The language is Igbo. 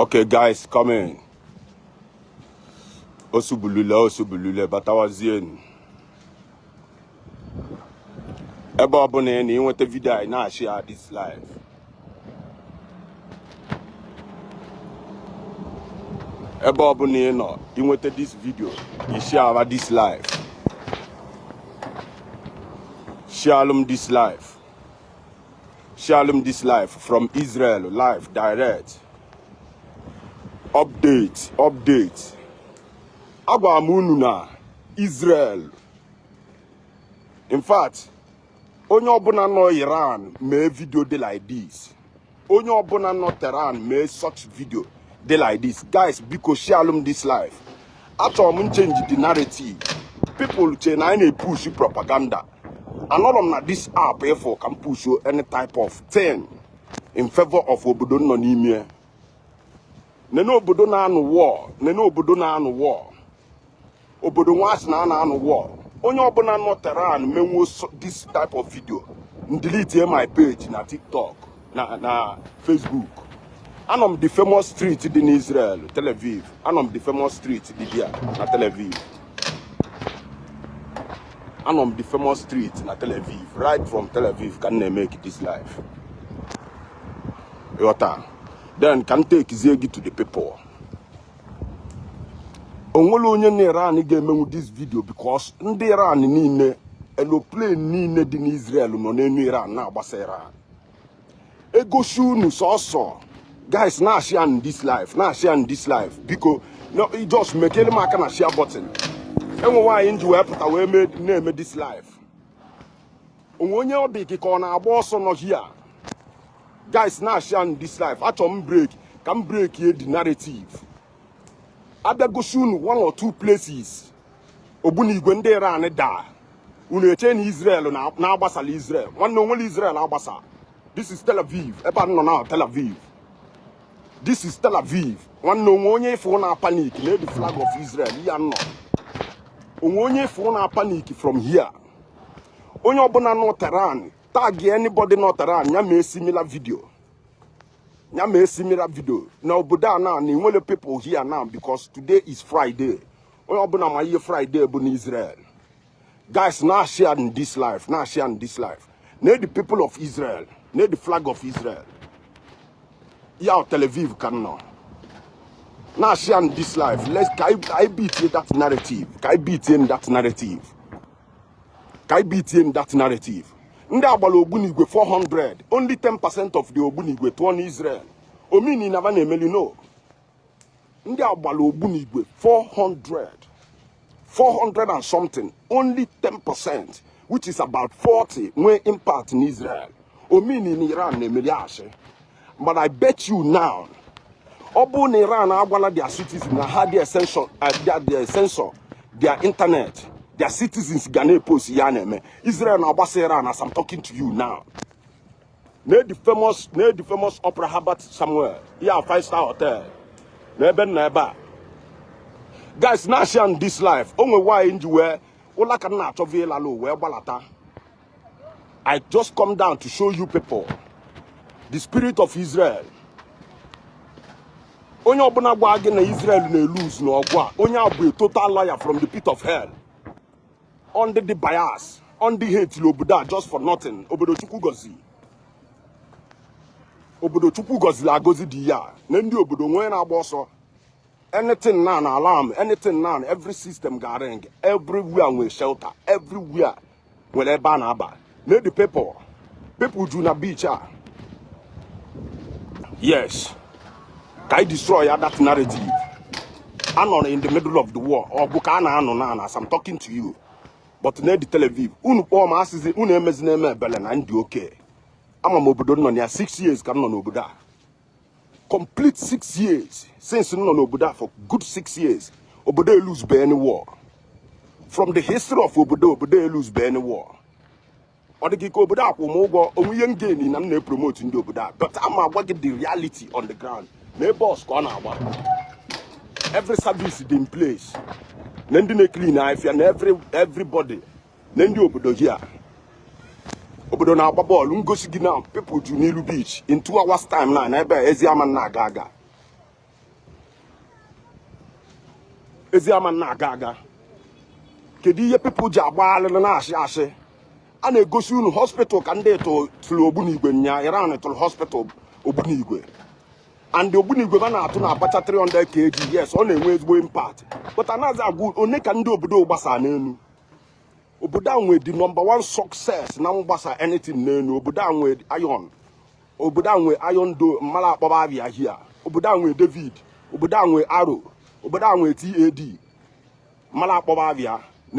Okay, guys, come in. Osubulule, Osubulule, Batawazienu. Ebe ọ bụla ị nọ inweta vidio anyị na-ashia this live. ebe ọbụla ị nọ inweta this video ị shiara this live shialụ m this live shialụ m this live from Israel live direct update update agwara m unu na Israel in fact onye ọbụla nọ iran mee vidio dị like this onye ọbụla nọ tehran mee such vidio dị like this guys biko shialụ m this live achọrọ m nchenji the narrative people che na anyị na-epush propaganda anọrọ m na this app ịfụ ka m push any type of thing in favor of obodo m nọ n'ime nene obodo na-anụ war nene obodo na-anụ war obodo nwa a sị na a na-anụ war onye ọbụla nọ tehran menwuo this type of video m deletie my page na tiktok na na facebook anọ m the famous street dị n'israel tel aviv anọ m the famous street dị dia na tel aviv anọ m the famous street na tel aviv right from tel aviv ka m na-emeki this live ịghọta then ka m tekizie gị to the people onwere onye na iran ga-emenwu this video because ndị iran niile aeroplane niile dị n'israel nọ n'elu iran na-agbasa iran egosi unu sọsọ guys na-ashianụ this live na-ashianụ this live biko just mekele m aka na share button enwe why m ji wee pụta wee na-eme this live onwe onye ọ dị gị ka ọ na-agba ọsọ nọ here guys na-ashianụ this live achọ m break ka m break ye the narrative abịa gosi unu one or two places ogbunigwe ndị iran daa unu eche na israel na agbasala israel nwanne onwere israel agbasa this is tel aviv ebe a nọ na tel aviv this is tel aviv nwanne onwe onye ifụ na-apanic nee the flag of israel ya nọ onwe onye ifụ na-apanic from here onye ọbụla nọ Tehran tag anybody nọ Tehran ya mee similar video ya mee similar video na obodo a na enwere people here now because today is Friday onye ọbụla ma ihe Friday bụ n'Israel guys na-asharenụ this live na-asharenụ this live nee the people of Israel nee the flag of Israel yeah Tel Aviv ka m nọ na-asharenụ this live let's ka anyị beat that narrative ka anyị beat that narrative ka anyị bitie in that narrative ndị a gbara ogbunigwe 400 only 10 percent of the ogbunigwe tụọ na Israel ọ mean na ba na-emeli no ndị a gbara ogbunigwe 400 400 and something only 10 percent which is about 40 nwee impact in Israel ọ mean na Iran na-emeli ashị but I bet you now ọ bụrụ na Iran agwala their citizens na ha their censor their internet their citizens ga na-epost ihe a na-eme Israel na-agbasa Iran as I'm talking to you now nee the famous opera Herbert Samuel yeah five star hotel na ebe nna ebe a guys na-ashare this live o nwe why nji wee ụla ka m na-achọvu ịlalụ wee gbalata I just come down to show you people the spirit of Israel. Onye ọbụla gwa gị na Israel na-eluz n'ọgụ a, onye a bụ a total liar from the pit of hell. Ọ ndị dị bias, ọ ndị hatelụ obodo a just for nothing, obodo Chukwu gọzi. Obodo Chukwu gọziri agọzi dị ya nee ndị obodo nwee na-agba ọsọ. anything now na alarm anything now every system ga-ring everywhere nwee shelter everywhere nwere ebe a na-aba nee dị people people ju na beach a yes ka anyị destroy ya that narrative anọrọ in the middle of the war ọgụ ka a na-anụ na ana as I'm talking to you but nee dị Tel Aviv unu kpọọ m asịzi unu emezie na-eme ebele na ndị okay ama m obodo m nọ na ya six years ka m nọ n'obodo a complete six years since m nọ n'obodo a for good six years obodo eluzube any war from the history of obodo obodo eluzube any war ọ dịghị ka obodo a kwụ m ụgwọ o nwe ihe m gain na m na-epromote ndị obodo a but ama agwa gị the reality on the ground nee bus ka ọ na-agba every service dị in place nee ndị na-eclean ife a na everybody nee ndị obodo here obodo na-agba bọọlụ m gosi gị na people ju n'ilu beach in two hours time now na ebe ezi ama na-aga aga ezi ama na-aga aga kedu ihe people ji agba alịlị na-ashị ashị a na-egosi unu hospital ka ndị tụ tụrụ ogbunigwe nya iran tụrụ hospital ogbunigwe and ogbunigwe ba na-atụ na-abacha 300 kg yes ọ na-enwe ezigbo impact but anaghịzi agwa unu ka ndị obodo gbasara n'elu obodo a nwee the number one success na mgbasa anything n'elu obodo a nwee iron obodo a nwee iron dome mara akpọba abịa here obodo a nwee david obodo a nwee Arrow obodo a nwee THAAD mara akpọba abịa